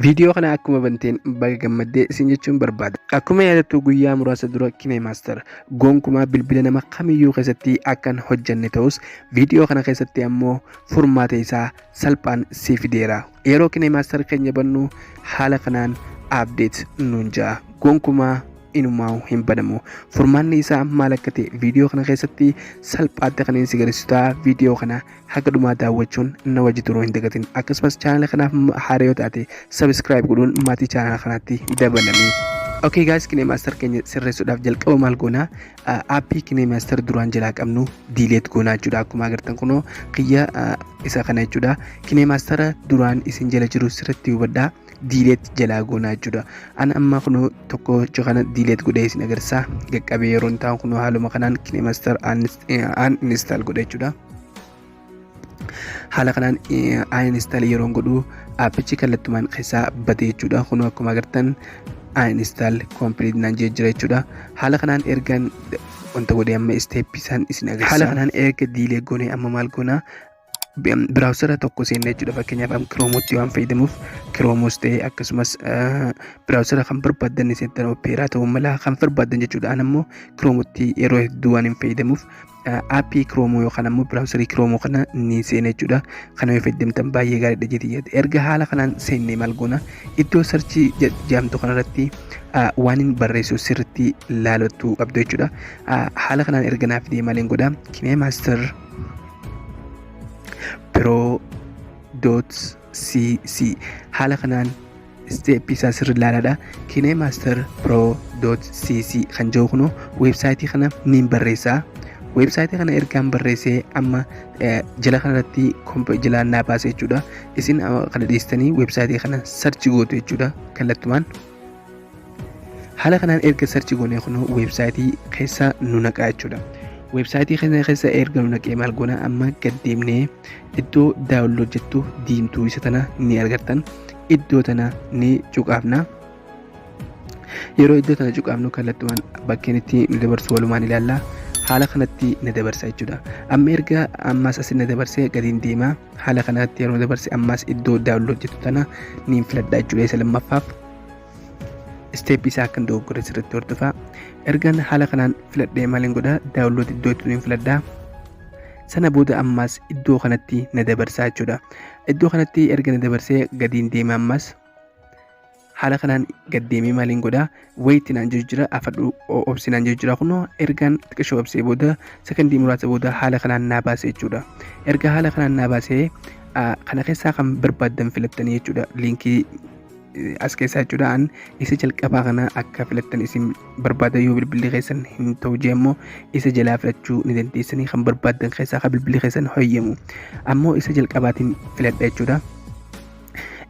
Viidiyoo kana akkuma banteen baga gammaddee isin jechuun barbaada. Akkuma yaadattu guyyaa muraasa dura Kime Master gonkumaa bilbila nama kamiyyuu keessatti akkan hojjanne ta'us viidiyoo kana keessatti ammoo furmaata isaa salphaan si fideera. Yeroo Kime Master keenya bannu haala kanaan update nuun ja'a. Gonkumaa inumaa hin banamu. Furmaanni isaa maal akka ta'e viidiyoo kana keessatti salphaatti kan isin agarsiisu ta'a. Viidiyoo kana haga dhumaa daawwachuun na wajji turuu hin dagatin akkasumas chaanala kanaaf haara yoo taate sabiskiraayib godhuun maatii chaanala kanaatti dabalami. Okay guys kinee maaster keenya sirreessuudhaaf jalqaba maal goonaa aappii kinee maaster duraan jalaa qabnu diileet goonaa jechuudha akkuma agartan kunoo kiyya isa kana jechuudha kinee maastera duraan isin jala jiru sirriitti hubadhaa. diileet jalaa goonaa jechuudha. An amma kunoo tokkocha kana diileet godhee isin agarsiisa. Qaqqabee yeroo hin taa'u kunoo haaluma kanaan kinemaster an install godha jechuudha. Haala kanaan an install yeroo godhu appichi kallattumaan keessaa bade jechuudha. Kunoo akkuma agartan an install complete naan jee jira jechuudha. Haala kanaan ergan wanta godhee amma isteeppii isaan isin agarsiisa. Haala kanaan erga diilee goonee amma maal goonaa biraawusara tokko seenne jechuudha fakkeenyaaf am kiroomutti waan fayyadamuuf kiroomus ta'ee akkasumas biraawusara kan barbaaddan seettan opeeraa ta'uu mala kan barbaaddan jechuudha an ammoo kiroomutti yeroo hedduu waan hin fayyadamuuf aappii kiroomoo yookaan ammoo biraawusarii kiroomoo kana ni seena jechuudha kana yoo fayyadamtan baay'ee gaariidha jedhee yaada erga haala kanaan seennee maal goona iddoo sarchii jaamtu kanarratti waan hin barreessu sirriitti laalachuu qabdu jechuudha haala kanaan erga naaf deemaaleen godha kinee maaster pro.cc haala kanaan isteeppii isaa sirri ilaalaadha kinemaster pro.cc kan jiru kun weebsaayitii kana niin barreessa weebsaayitii kana ergaan barreessee amma jala kanarratti jalaan naa baasa jechuudha isin kana dhiistanii weebsaayitii kana sarchi gootu jechuudha kallattumaan Haala kanaan erga sarchi goonee kunoo weebsaayitii keessa nu naqaa jechuudha. Weebsaayitii keenya keessa erga nu naqee maal goona amma gad deemnee iddoo daawunlood jettu diimtuu isa tana ni argattan. Iddoo tana ni cuqaafna. Yeroo iddoo tana cuqaafnu kallattumaan bakkeen itti nu dabarsu walumaan ilaalla. Haala kanatti na dabarsa jechuudha. Amma erga ammas asi na dabarsee gadiin deemaa. haala kanaatti yeroo dabarse ammaas iddoo daawunlood jettu tana niin filadha jechuudha isa lammaffaaf isteeppii isaa akkan dogoggore sirriitti hordofaa ergan haala kanaan filadhee maaliin godha daawunlood iddoo jettu niin filadha sana booda ammaas iddoo kanatti na dabarsaa jechuudha iddoo kanatti erga na dabarsee gadiin deema ammaas haala kanaan gaddeemee maaliin godha wayitti naan jedhu jira afadhu obsi naan jedhu jira kunoo ergaan xiqqishoo obsee booda sekondii muraasa booda haala kanaan naa baase jechuudha erga haala kanaan naa baase kana keessaa kan barbaaddan filattanii jechuudha liinkii as keessaa jechuudha an isa jalqabaa kana akka filattan isin barbaada yoo bilbilli keessan hin ta'u jee immoo isa jalaa filachuu ni dandeessanii kan barbaaddan keessaa kan bilbilli keessan hoyyamu ammoo isa jalqabaatiin filadha jechuudha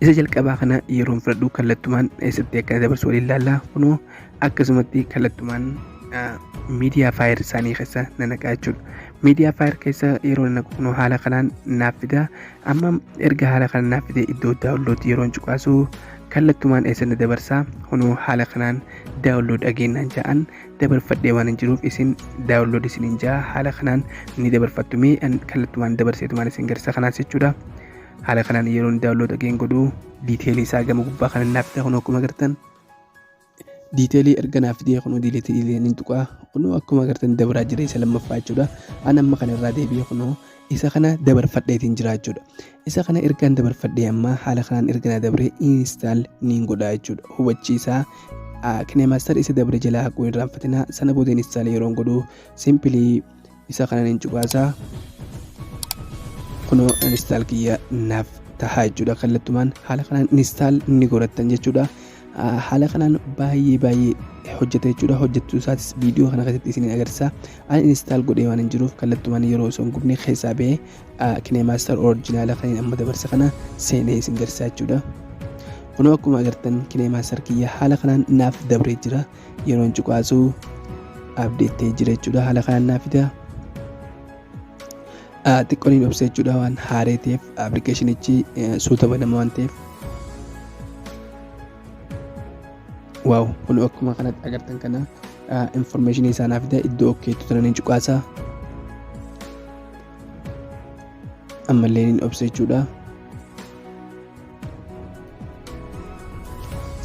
Isa jalqabaa kana yeroon fudhadhu kallattumaan eessatti akka dabarsu waliin laallaa kunoo akkasumatti kallattumaan miidiyaa faayir isaanii keessa na naqaa jechuudha. Miidiyaa faayir keessa yeroo na naqu kunoo haala kanaan naaf fida. Amma erga haala kanaan naaf fide iddoo daawunloodii yeroon cuqaasu kallattumaan eessa na dabarsa kunoo haala kanaan daawunlood dhageenyaan ja'an dabarfadhee waan hin jiruuf isin daawunlood isiniin ja'a haala kanaan ni dabarfattu mee kallattumaan dabarseetumaan isin garsa kanaas jechuudha. haala kanaan yeroo inni daawunlood ageen godhu diiteelii isaa gama gubbaa kan naaf ta'e kun akkuma agartan diiteelii erga naaf ta'e kun diileetii illee ni tuqaa kun akkuma agartan dabaraa jira isa lammaffaa jechuudha an amma kana irraa deebi'ee kun isa kana dabarfadheetiin jira jechuudha isa kana ergaan dabarfadhee amma haala kanaan erga na dabree instaal niin godhaa jechuudha hubachiisaa kineemaastar isa dabre jalaa haquu irraanfatinaa sana booda instaal yeroon godhu simpilii isa kanan hin cuqaasaa kunoo instaal kiyya naaf tahaa jechuudha kallattumaan haala kanaan instaal ni godhattan jechuudha haala kanaan baay'ee baay'ee hojjeta jechuudha hojjechuu isaatis viidiyoo kana keessatti isin agarsiisa ani instaal godhee waan hin jiruuf kallattumaan yeroo osoo hin gubne keessaa ba'ee kineemaaster orijinaala kan amma dabarse kana seenee isin garsiisa jechuudha kunoo akkuma agartan kineemaaster kiyya haala kanaan naaf dabree jira yeroon cuqaasu abdeet ta'ee jira jechuudha haala kanaan naa fida xiqqooniin obsa jechuudha waan haaree ta'eef appilikeeshinichi suuta banama waan ta'eef waaw kun akkuma kanatti agartan kana informeeshinii isaa naa fida iddoo okkeetu tananiin cuqaasa ammallee niin obsa jechuudha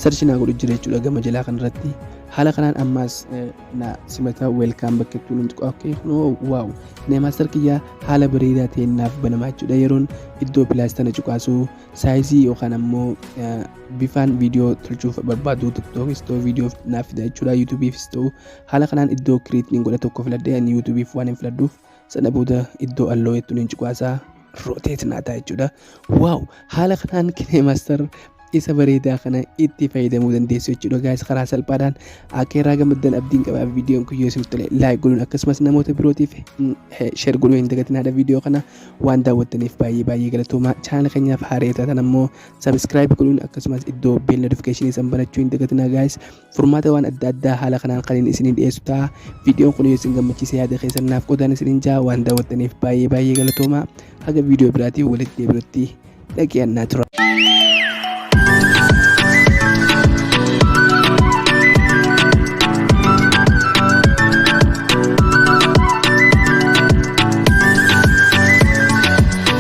sarchi naa godhu jira jechuudha gama jalaa kanarratti haala kanaan ammaas na simata weelkaam bakka itti nuti qo'akkee kunoo waaw neemaastar kiyyaa haala bareedaa ta'een naaf banamaa jechuudha yeroon iddoo pilaastana cuqaasu saayizii yookaan ammoo bifaan viidiyoo tolchuuf barbaadu tiktookis ta'u viidiyoof naaf fida jechuudha yuutuubiifis ta'u haala kanaan iddoo kiriitiin godha tokko filadhee ani yuutuubiif waan hin filadhuuf Sana booda iddoo alloo jettuun hin cuqaasaa roteet naa ta'a jechuudha. Waaw haala kanaan kineemaastar isa bareedaa kana itti fayyadamuu dandeessu jechuudha gaayis karaa salphaadhaan akka irraa gammaddan abdiin qabaa viidiyoon kun yoo isin tole laayik godhuun akkasumas namoota birootiif sheer godhuu hin dagatinaadha viidiyoo kana waan daawwattaniif baay'ee baay'ee galatoomaa chaanala keenyaaf haaree taatan ammoo sabiskiraayib godhuun akkasumas iddoo beella notifikashinii san banachuu hin dagatinaa gaayis Furmaata waan adda addaa haala kanaan kaniin isiniin dhiyeessu ta'a. Viidiyoon kun yoo isin gammachiise yaada keessan naaf qodaan isiniin ja'a waan daawwattaniif baay'ee baay'ee galatoomaa. Haga viidiyoo biraatiin walitti deebinutti dhaqi'an naa tura.